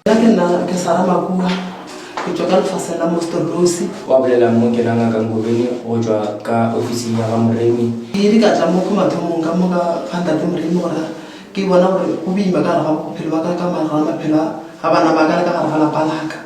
Nna ke nna ke Sara Makua, ke tšwa ka lefaseng la Mosterlosi. Wa bolela mo ke la ngaka Ngobeni go tšwa ka ofising ya ga Moremi. Ke ile ka tla mo ke mathomong ka mo ka ga ntate Moremi gore ke bona gore go boima ka gare ga bophelo ba ka ka gare ga maphelo a bana ba ka le ka gare ga lapa la ka.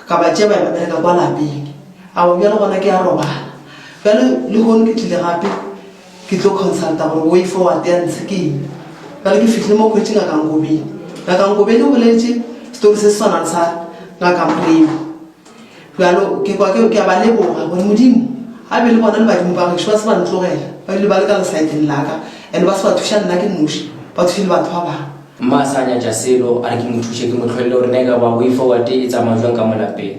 Ka ba tšea ba ya ba bereka kwa lapeng. A o bjale gona ke a robala. Bjale lehono ke tlile gape. Ke tlo consulta gore way forward ya ntshe ke eng. Bjale ke fihlile mo khwetši Ngaka Nkobeni. Ngaka Nkobeni o boletše story se se swana le sa Ngaka Mpoeni. Bjalo ke kwa ke a ba leboga gore Modimo a be le bona le badimo ba gešo ba se ba ntlogela ba bile ba le ka lesaeteng la ka and ba se ba thuša nna ke noši, ba thushe le batho ba bangwe. Mma a sa nyatša selo, a re ke mo thuše ke mo tlholele gore na e ka ba way forward e tsamaya bjang ka mo lapeng.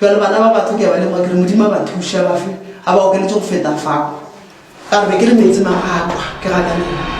Bjale bana ba batho ke a ba lemoga ke re Modimo a ba thuše a ba fe a ba okeletše go feta fao. Ka re be ke le meetse ma a kwa ke gakaneng.